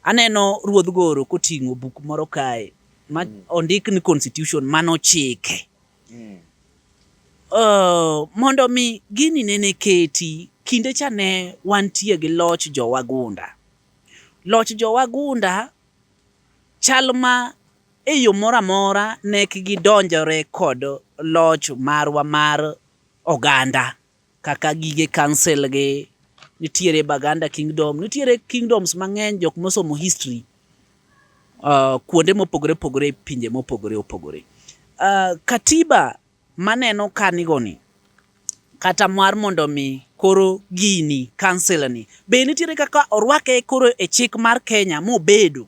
Aneno Ruodh Goro koting'o buk moro kae ma mm. ondik ni Constitution mano chike. Mm. Uh, mondo mi gini nene keti kinde cha ne wantie gi loch jowagunda. Loch jowagunda chal ma e yo moro amora ne gidonjore kod loch marwa mar oganda. kaka gige council gi, nitiere Baganda Kingdom, nitiere kingdoms mang'eny jok mosomo history uh, kuonde mopogore opogore e pinje mopogore opogore. Uh, katiba maneno kanigoni kata mar mondo mi koro gini council ni be nitiere kaka orwake koro e chik mar Kenya mobedo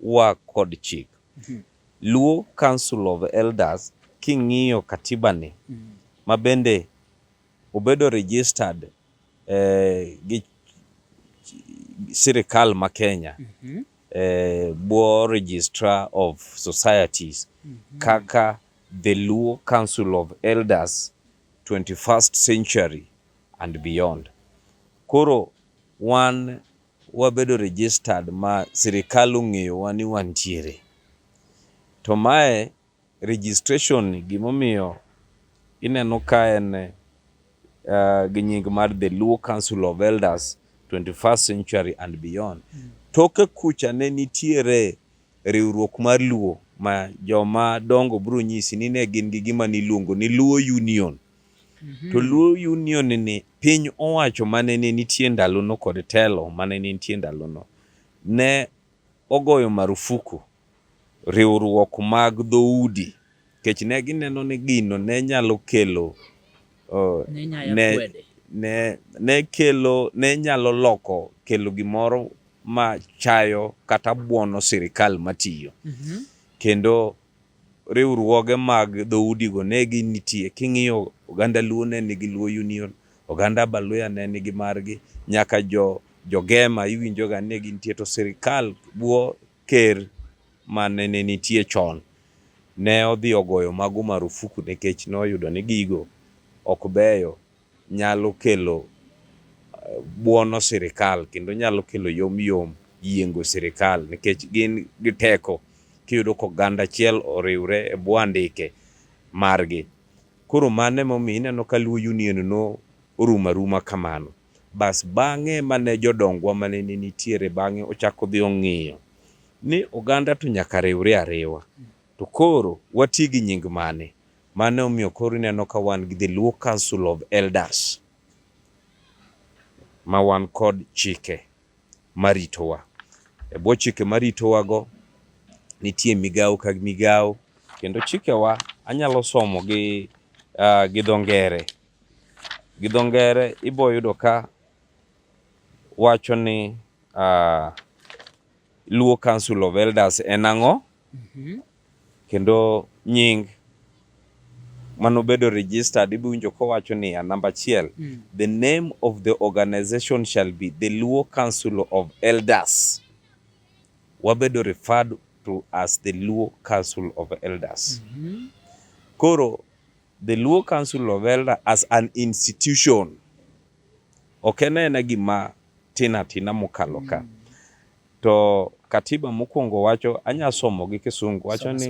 wa kod chik. Mhm. Luo Council of Elders king'iyo katiba ni mhm. ma bende obedo registered eh, gi sirikal ma Kenya mhm. eh, bwo registrar of societies kaka the Luo Council of Elders 21st century and beyond. Koro wan wabedo registered ma sirikal ong'eyowa ni wantiere. To mae registration ni gimomiyo ineno ka en uh, gi nying mar The Luo Council of Elders 21st Century and Beyond. Mm. Toke kucha ne nitiere riwruok mar Luo ma joma dongo biro nyisi ni ne gin gi gima niluongo ni Luo Union. Mhm. To Luo Union ni piny owacho mane ne nitie ndalono kod telo mane ne nitie ndalono ne ogoyo marufuku riwruok mag dhoudi kech ne gineno ni gino ne nyalo kelo uh, ne nyaya ne, kwede ne, ne kelo ne nyalo loko kelo gimoro ma chayo kata buono sirikal matiyo Mhm. kendo Riwruoge mag dhoudigo ne gi nitie. King'iyo oganda Luo ne nigi Luo Union, oganda Abaluya ne nigi margi, nyaka jo Gema iwinjo ga ni ne gintie. To sirikal bwo ker mane ne nitie chon ne odhi ogoyo mago marufuku nikech noyudo ni gigo ok beyo. nyalo kelo eh, buono sirikal kendo nyalo kelo yom yom yiengo sirikal nikech gin gi teko kiyudo ko ganda achiel oriwre e bwo andike margi. Koro mano emomiyo ineno ka Luo Union no orumo aruma kamano. Bas bang'e mane jodongwa mane nitiere bang'e ochako dhi ong'iyo ni oganda to nyaka riwre ariwa to koro wati gi nying mane Mano e omiyo koro ineno ka wan gi the Luo Council of Elders ma wan kod chike maritowa. E bwo chike maritowago nitie migawo ka migawo kendo chikewa anyalo somo gi, uh, gi dho ngere. Gi dho ngere iboyudo ka wacho ni uh, Luo Council of Elders en ang'o? Mm -hmm. Kendo nying manobedo registered ibiwinjo kowacho niya namba achiel mm. the name of the organization shall be the Luo Council of Elders wabedo referred to as the Luo Council of Elders mm -hmm. koro the Luo Council of Elders as an institution ok en ena gima tina tina mokalo ka mm. To katiba mokwongo wacho, anya somo gi Kisungu, wacho ni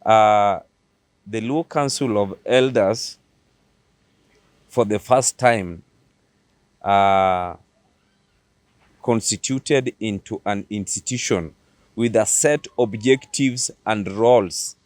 uh, the Luo Council of Elders for the first time uh, constituted into an institution with a set objectives and roles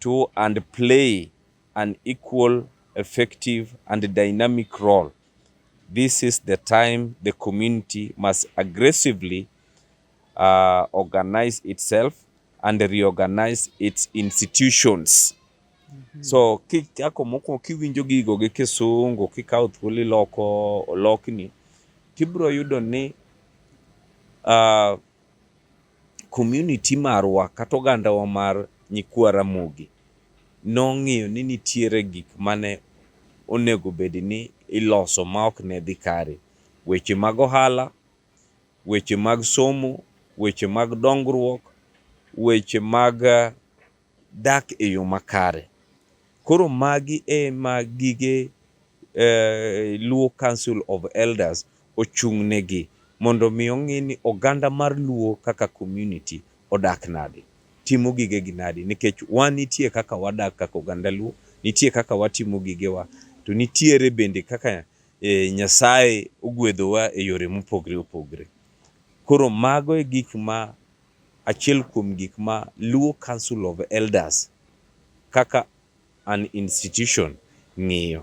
to and play an equal, effective and dynamic role. This is the time the community must aggressively uh, organize itself and reorganize its institutions. Mm -hmm. So kichako mokwongo kiwinjo gigo gi Kisungu kikawo thuolo iloko olokni tibro yudo ni uh, community marwa kata ogandawa mar nyikwa Ramogi nong'iyo ni nitiere gik mane onego bed ni iloso ma ok ne dhi kare. Weche mag ohala, weche mag somo, weche mag dongruok, weche mag dak e yo makare. Koro magi e ma gige Luo Council of Elders ochung'negi mondo mi ong'i ni oganda mar Luo kaka community odak nadi, timo gigegi nadi nikech wan nitie kaka wadak kaka oganda Luo, nitie kaka watimo gigewa to nitiere bende kaka Nyasaye ogwedhowa e yore mopogre opogre. Koro mago e gik ma achiel kuom gik ma Luo Council of Elders kaka an institution ng'iyo.